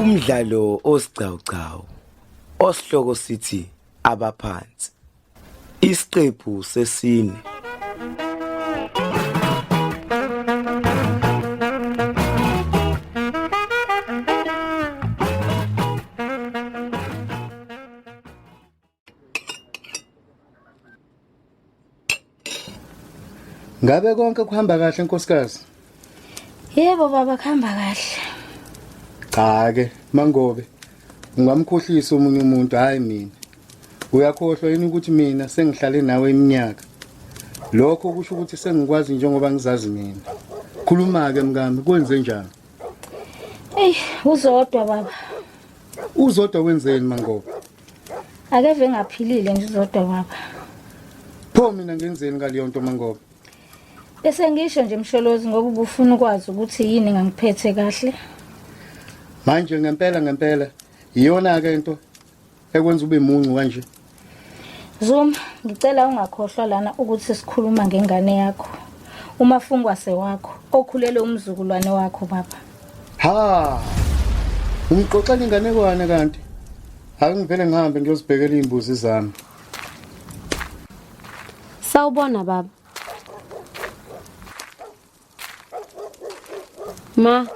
Umdlalo osigcawugcawu osihloko sithi abaphansi. Isiqephu sesine Ngabe konke kuhamba kahle nkosikazi? Yebo baba khamba kahle. Cha ke mangobe ungamkhohlisa umunye umuntu hayi mina. Uyakhohlwa yini ukuthi mina sengihlale nawe iminyaka? Lokho kusho ukuthi sengikwazi njengoba ngizazi mina. Khuluma ke mkami kwenze njani? Ey uzodwa baba. Uzodwa wenzeni mangobe? Akeve ngaphilile nje uzodwa baba. Pho mina ngenzeni ngaleyo nto mangobe? Bese ngisho nje Msholozi ngoba ubufuna ukwazi ukuthi yini engangiphethe kahle. Manje ngempela ngempela iyona ke into ekwenza ube muncu kanje. Zuma, ngicela ungakhohlwa lana ukuthi sikhuluma ngengane yakho. Umafungwa sewakho, okhulele umzukulwane wakho baba. Ha! Ungixoxela inganekwane kanti. Akungivele ngihambe ngiyozibhekela izimbuzi zami. Sawubona baba. Ma,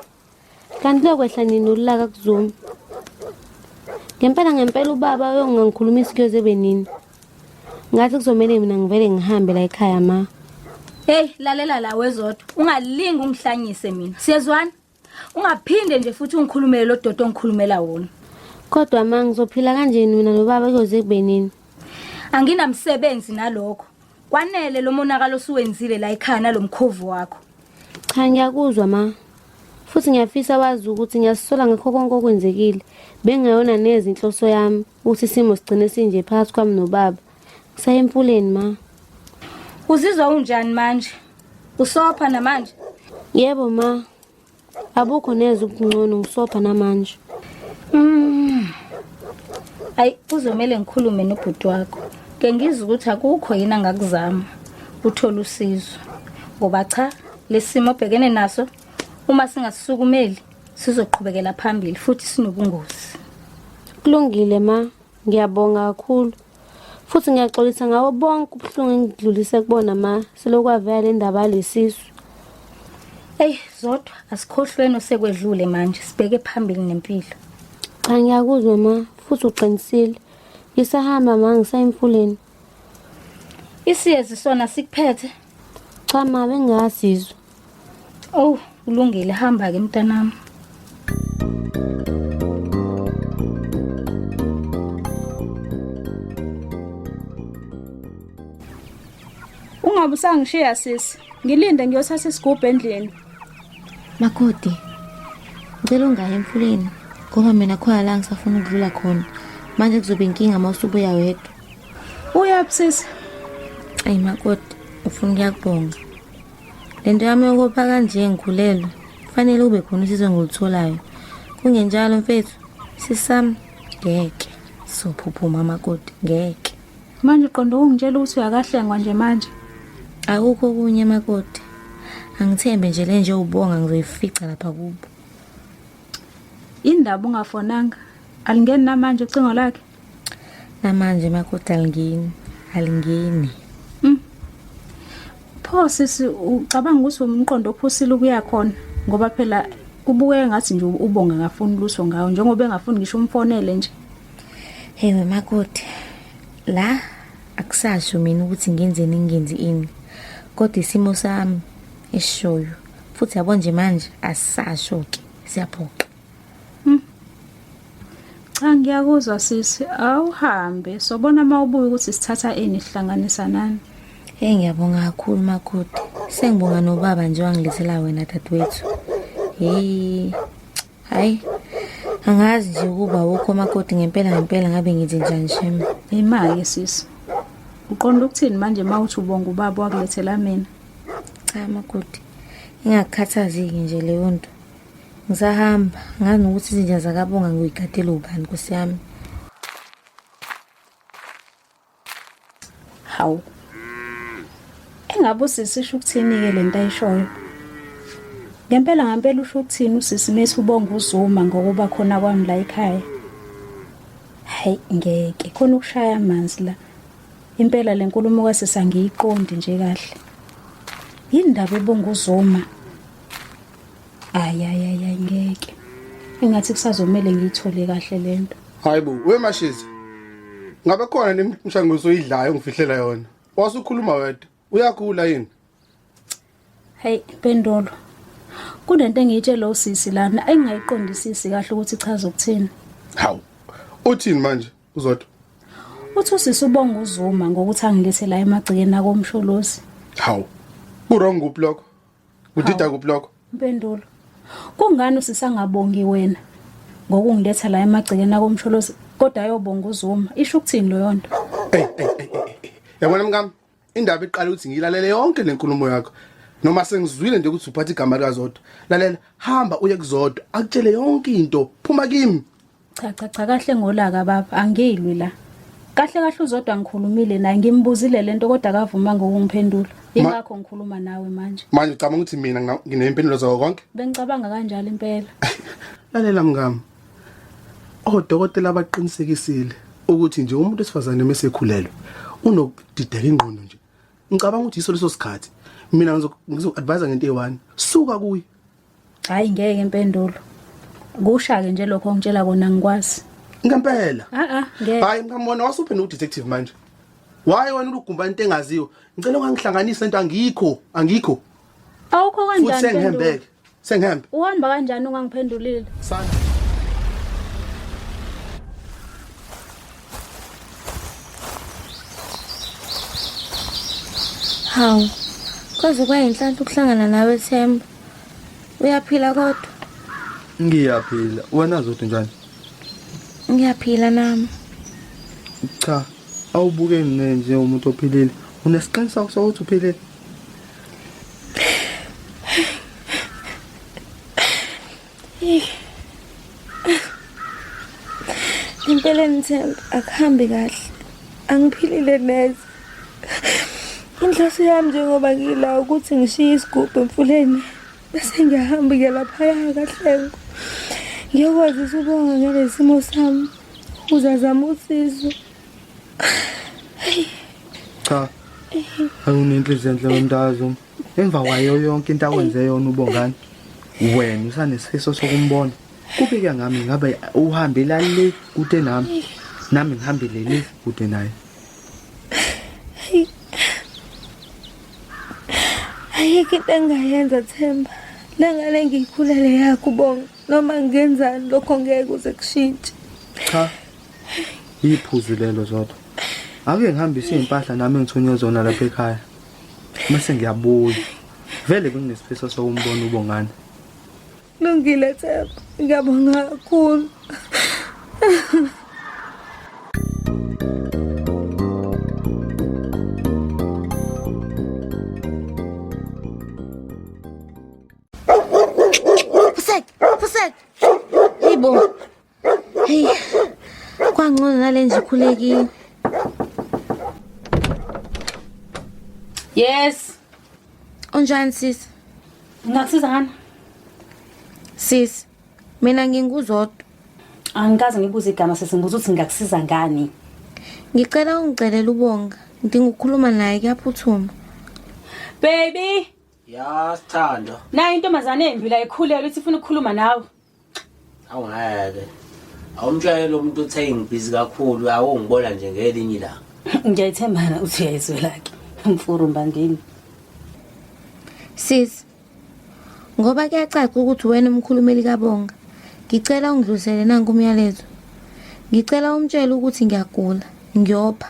kanti lokwehla nini ulaka kuzuma? Ngempela ngempela ubaba uyongangikhulumisa kuyoze kube nini. Ngathi kuzomele mina ngivele ngihambe la ekhaya ma. Hey, lalela la wezodwa. Ungalingi ungihlanyise mina. Siyezwana? ungaphinde nje futhi ungikhulumele lo dodo ongikhulumela wona kodwa ma ngizophila kanjeni mina nobaba kuyoze kubenini anginamsebenzi nalokho kwanele lo monakalo osuwenzile la ekhana lo mkhovu wakho cha ngiyakuzwa ma futhi ngiyafisa wazi ukuthi ngiyasola ngakho konke okwenzekile bengayona neze inhloso yami ukuthi isimo sigcine sinje phakathi kwami nobaba Saya emfuleni ma. Uzizwa unjani manje? Usopha namanje? Yebo ma. Abukho neze ubungcono ngisopha namanje. Mm. Ayi kuzomele ngikhulume nobhuti wakho. Ke ngizwe ukuthi akukho yini angakuzama. Uthola usizo. Ngoba cha lesimo obhekene naso uma singasukumeli sizoqhubekela phambili futhi sinobungozi. Kulungile ma, Ngiyabonga kakhulu futhi ngiyaxolisa ngawo bonke ubuhlungu engidlulise kubona ma selokwavela le ndaba yalesisu eyi zodwa asikhohlweni osekwedlule manje sibheke phambili nempilo cha ngiyakuzwa ma futhi uqinisile ngisahamba ma ngisayemfuleni isiyezi sona sikuphethe cha ma bengasizwa Oh, kulungile hamba ke mntanami. Ungabe usangishiya sisi. Ngilinde ngiyothatha isigubhu endlini. Makoti. Ngicela ungayi emfuleni ngoba mina khona la ngisafuna ukudlula khona. Manje kuzoba inkinga uma usubuya wedwa. Uyaphi sisi? Ayi makoti, ufuna ukuyakubonga. Le nto yami yokopha kanje ngikhulelwe kufanele kube khona usizo engilitholayo kungenjalo mfethu sisami ngeke sophuphuma amakoti ngeke manje uqonda ukungitshela ukuthi uyakahlengwa nje manje akukho okunye makoti angithembe nje le nje ubonga ngizoyifica lapha kubo indaba ungafonanga alingeni namanje ucingo lakhe Namanje makoti alingeni, alingeni. Mm. Pho sisi ucabanga ukuthi umqondo ophusile ukuya khona ngoba phela kubukeka ngathi nje ubonga ngafuni luso ngawo njengoba engafuni ngisho umfonele nje. Hey wemakoti la akusasho mina ukuthi ngenzeni ngingenzi ini kodwa isimo sami esishoyo futhi yabo nje manje asisasho ke siyaphoxa Hmm. Cha ngiyakuzwa sisi awuhambe sobona uma ubuye ukuthi sithatha ini sihlanganisa nani. Hey ngiyabonga kakhulu makoti. Sengibonga nobaba nje wangilethela wena dadewethu. Hey. Hayi. Angazi nje ukuba wukho makoti ngempela ngempela ngabe ngithi njani shem. Imali sisi. Uqonda ukuthini manje mawuthi ubonga ubaba wakulethela mina? Cha makoti. Ingakukhathazeki nje leyo nto. ngisahamba ngazi nokuthi izinja zakabonga ngiyigadele ubani nkosi yami hawu engabe usisi isho ukuthini-ke le nto ayishoyo ngempela ngampela usho ukuthini usisi mesi ubonga uzuma ngokuba khona kwami la ekhaya hayi ngeke khona ukushaya amanzi la impela le nkulumo kwasisa ngiyiqondi nje kahle yini ndaba ebonga uzuma ayayaya ngeke engathi kusazomele ngiyithole kahle lento hayibo wemashezi ngabe khona nemshanguzo oyidlayo ngifihlela yona wasukhuluma wedwa uyakhula yini hey pendolo kunento engiyitshela usisi lana engingayiqondisisi kahle ukuthi ichaza ukuthini hawu uthini manje uzodwa uthi usisi ubonga uzuma ngokuthi angilethela emagcikeni akomsholozi hawu kurong kuphi lokho Udida kuphi lokho? Impendulo. Kungani usisangabongi wena ngokungiletha la emagcekeni akomsholozi kodwa ayobonga uZuma. Isho ukuthini leyo nto? Ey ey ey. Yabona mkami indaba iqala ukuthi ngilalele yonke lenkulumo yakho. Noma sengizwile nje ukuthi uphatha igama lika Zodwa. Lalela hamba uye kuzodwa akutshele yonke into. Phuma kimi. cha cha cha kahle ngolaka baba angilwi la kahle kahle uzodwa ngikhulumile naye ngimbuzile lento kodwa akavuma ngokungiphendula ingakho ngikhuluma nawe manje manje ucabanga ukuthi mina ngina- nginempendulo zawo konke bengicabanga kanjalo impela lalela mngam odokotela abaqinisekisile ukuthi nje umuntu wesifazane uma esekhulelwe unokudideka ingqondo nje ngicabanga ukuthi yiso leso sikhathi mina ngizoku-advise ngento eyi-one suka kuye Hayi ngeke impendulo. Kusha-ke nje lokho ongitshela kona ngikwazi. Ngempela. Ah ah ngeke. Hayi mkamona wasuphe no detective manje. Why wena ulugumba into engaziwe? Ngicela ungangihlanganisa into angikho, angikho. Awukho kanjani? Futhi sengihambeke. Sengihambe. Uhamba kanjani ungangiphendulile? Sana. Hawu. Kwaze kwayinhlanhla ukuhlangana nawe Themba. uyaphila kodwa ngiyaphila wena zodwa njani ngiyaphila nami cha awubuke mina nje umuntu ophilile unesiqiniseko sokuthi uphilile impela ngithemba akuhambi kahle angiphilile neze inhloso yami njengoba ngila ukuthi ngishiye isigubhu emfuleni bese ngiyahamba ke laphaya kahlengo ngiyokwazisa ubonga ngale simo sami uzazama usizo cha awunenhliziyo enhle wemntazi emva kwayo yonke into awenze yona ubongani wena usanesifiso sokumbona kubike ngami ngabe uhambela le kude nami nami ngihambele le kude naye ayikho into engingayenza themba le ngane ngiyikhulele yakho ubonga noma ngenzani lokho ngeke kuze kushintshe cha iphuzu lelo zodwa ake ngihambise iy'mpahla nami engithunywe zona lapha ekhaya mase ngiyabuya vele benginesifiso sokumbona ubongane lungile themba ngiyabonga kakhulu Fusek, Fusek. Hey bo, Hey. Kwangcono nalenje ikhulekile. Yes. Unjani sis? Ngakusiza ngani? Sis, mina nginguzodwa. Angikaze ngibuze igama sisi ngibuza ukuthi ngakusiza ngani. Ngicela ungicelela ubonga. Ngidinga ukukhuluma naye kuyaphuthuma. Baby. Ya, sithando. Nayi intombazane embi la ikhulelwe ithi ifuna ukukhuluma nawe. awungeke awumtshayela umuntu uthe ngibhizi kakhulu awungibona nje ngelinye ilanga ngiyayithembana uthi uyayizwelake mfuru mbangini sis ngoba kuyacaca ukuthi wena umkhulumeli kabonga ngicela ungidlulisele nanku umyalezo ngicela umtshele ukuthi ngiyagula ngiyopha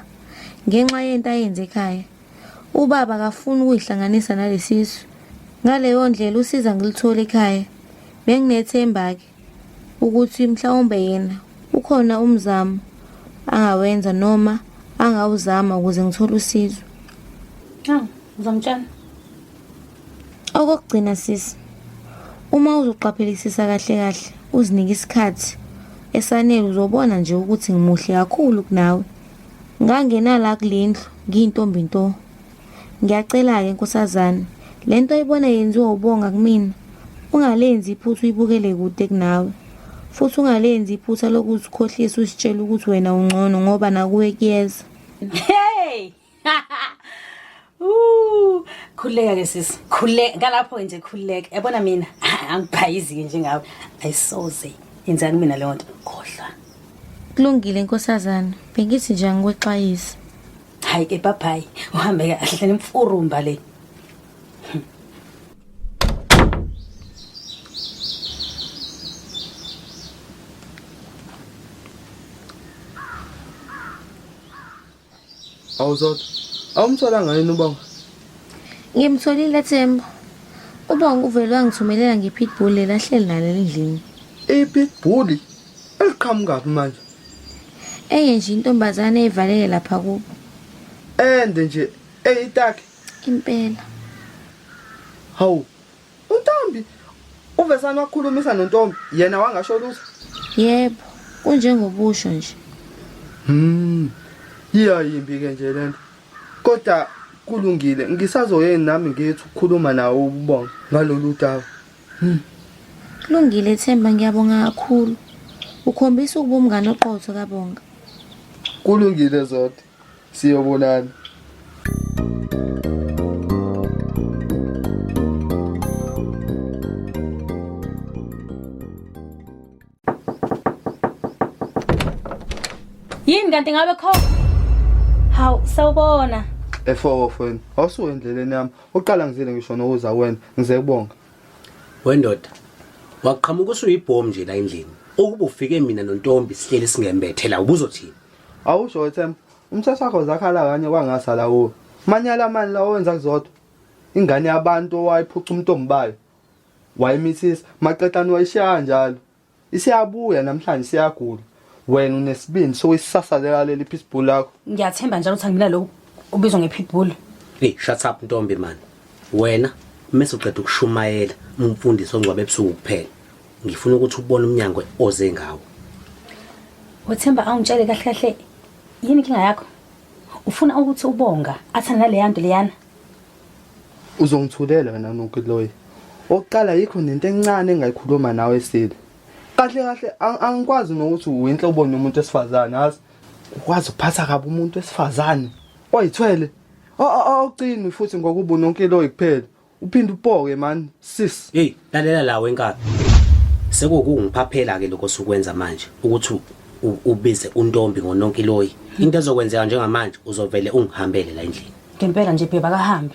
ngenxa yento ayenze ekhaya Ubaba akafuni ukuyihlanganisa nalesisu. Ngaleyo ndlela usiza ngilithole ekhaya. Benginethemba-ke ukuthi mhlawumbe yena ukhona umzamo angawenza noma angawuzama ukuze ngithole usizo. Hawu, ngizomtshela. Okokugcina sisi, uma uzoqaphelisisa kahle kahle, uzinike isikhathi esanele uzobona nje ukuthi ngimuhle kakhulu kunawe. Ngangena la kulendlu ngiyintombi nto. Ngiyacela ke nkosazana, lento oyibona yenziwa ubonga kumina. Ungalenzi iphutha uyibukele kude kunawe. Futhi ungalenzi iphutha lokuzikhohlisa usitshela ukuthi wena ungcono ngoba nakuwe kuyeza. Hey! khululeka ke sisi khululeka ngalapho nje khululeka yabona mina angiphayizike njengawe ayisoze yenzani mina leyo nto khohlwa kulungile nkosazana bengithi nje angikwexwayise hayi ke babhayi uhambe kahle nemfurumba le Awuzodwa. Awumtholanga yini ubonga? Ngimtholile Themba. Ubonga uvele wangithumelela ngepitbull lelahleli nalo endlini. Ipitbull eliqhamukaphi manje? Enye nje intombazane evalele lapha kubo. Ende nje eyitaki impela. Hawu, UNtombi uVesani wakhulumisa noNtombi yena wangasho lutho. Yebo, kunjengobusho nje. Hmm. Yiya yimbi ke nje lento. Kodwa kulungile ngisazoyeni nami ngithi ukukhuluma nawo ubonga ngalolu daba. Hmm. Kulungile Themba ngiyabonga kakhulu. Ukhombisa ukuba umngane oqotho kabonga. Kulungile Zodi. siyobonana yini kanti ngabe kho hawu sawubona efowo fweni awusuke endleleni yami uqala ngizile ngisho nokuza wena ngize kubonga wendoda waqhamuka usuyibhomu nje la endlini ukuba ufike mina nontombi sihleli singembethe la ubuzothini Awusho wethemba umthetho wakho zakhala kanye kwangasala kuwo manyala mani la owenza kuzodwa ingane yabantu owayiphuca umntombi bayo wayimithisa maqedani wayishaya njalo isiyabuya namhlanje siyagula wena unesibindi sokuyisasalela leli pitbull lakho ngiyathemba njalo ukuthi angibila lokhu ubizwa ngepitbull hey shut up ntombi mani wena mese uqeda ukushumayela umfundisi ongcwabe ebusuku kuphela ngifuna ukuthi ubone umnyango oze ngawo wethemba awungitshele kahle kahle yini inkinga yakho ufuna ukuthi ubonga athane naleya nto leyana uzongithulela wena nokuloyi oqala yikho nento encane engayikhuluma nawe esile kahle kahle angikwazi nokuthi uyinhle ubone umuntu esifazane azi ukwazi ukuphatha kabi umuntu esifazane oyithwele awucini futhi ngokuba unonkiloyi kuphela Uphinde upoke man sis. Hey, lalela lawo enkabi. Sekukungiphaphela ke lokho sukwenza manje ukuthi ubize untombi ngononkiloyi. Into ezokwenzeka njengamanje uzovele ungihambele la endlini. Ngempela nje bheba kahambe.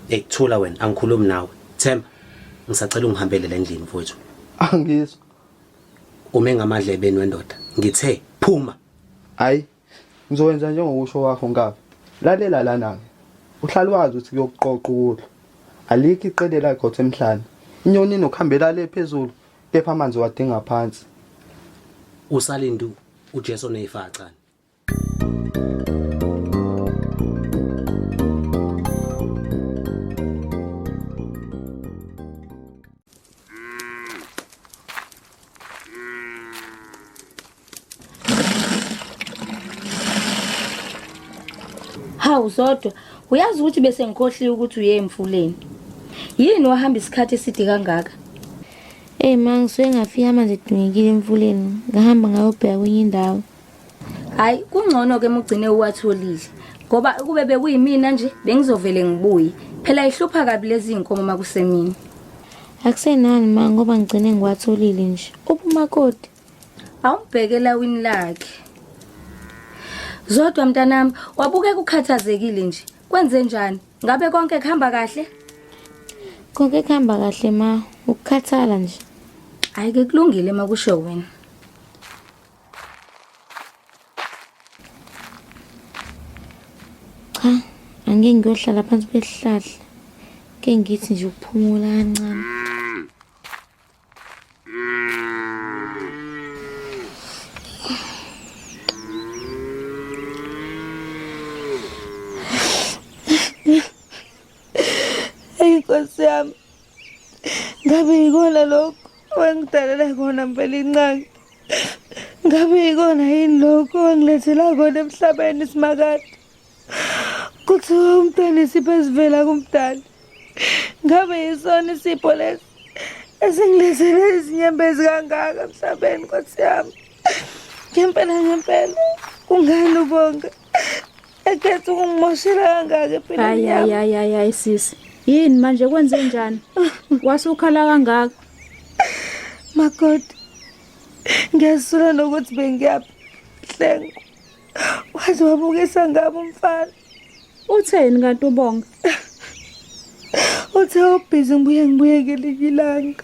Hey, thula wena angikhulumi nawe. Themba, ngisacela ungihambele la endlini mfowethu. Angizwa. Ume ngamadlebeni wendoda. Ngithe phuma. Hayi Ngizokwenza njengokusho kwakho Nkabi. Lalela lana-ke. Uhlale wazi ukuthi kuyokuqoqa ukudla. Alikho iqede elagqotha emhlane. Inyoni inokuhambela le phezulu, kepha amanzi wadinga phansi. Usalindu uJesu oneyifacane. Hawu Zodwa, uyazi ukuthi bese ngikhohliwe ukuthi uye emfuleni. Yini wahamba isikhathi eside kangaka? Ey ma ngisuke ngafika manje dingekile emfuleni ngahamba ngayobheka kwenye indawo hayi kungcono-ke uma ugcine uwatholile ngoba ukube bekuyimina nje bengizovele ngibuye phela ihlupha kabi lezi iy'nkomo uma kusemini akusenani ma ngoba ngigcine ngiwatholile nje uphumakoti awumbheke elawini lakhe zodwa mntanami wabukeka ukhathazekile nje kwenze njani ngabe konke kuhamba kahle konke kuhamba kahle ma ukukhathala nje hhayi ke kulungile uma kusho wena cha angeke ngiyohlala phansi kwesihlahla ke ngithi nje ukuphumula kancane Eyi nkosi yami ngabe yikona lokho wangidalela kona mpela incane ngabe yikona yini lokho wangilethela kona emhlabeni simakade kuthiwa umntwana isipho esivela kumdali ngabe yisona isipho lesi esingilethele izinyembezi kangaka emhlabeni nkosi yami ngempela ngempela kungani ubonga ekhetha ukungimoshela kangaka empilweni yami hayi hayi hayi sisi yini manje kwenze njani wasukhala kangaka makoti ngiyasula nokuthi bengiyaphi hlengo waze wabukisa ngabo umfana utheni kanti ubonga uthe ubhizi ngibuye ngibuyekele ilanga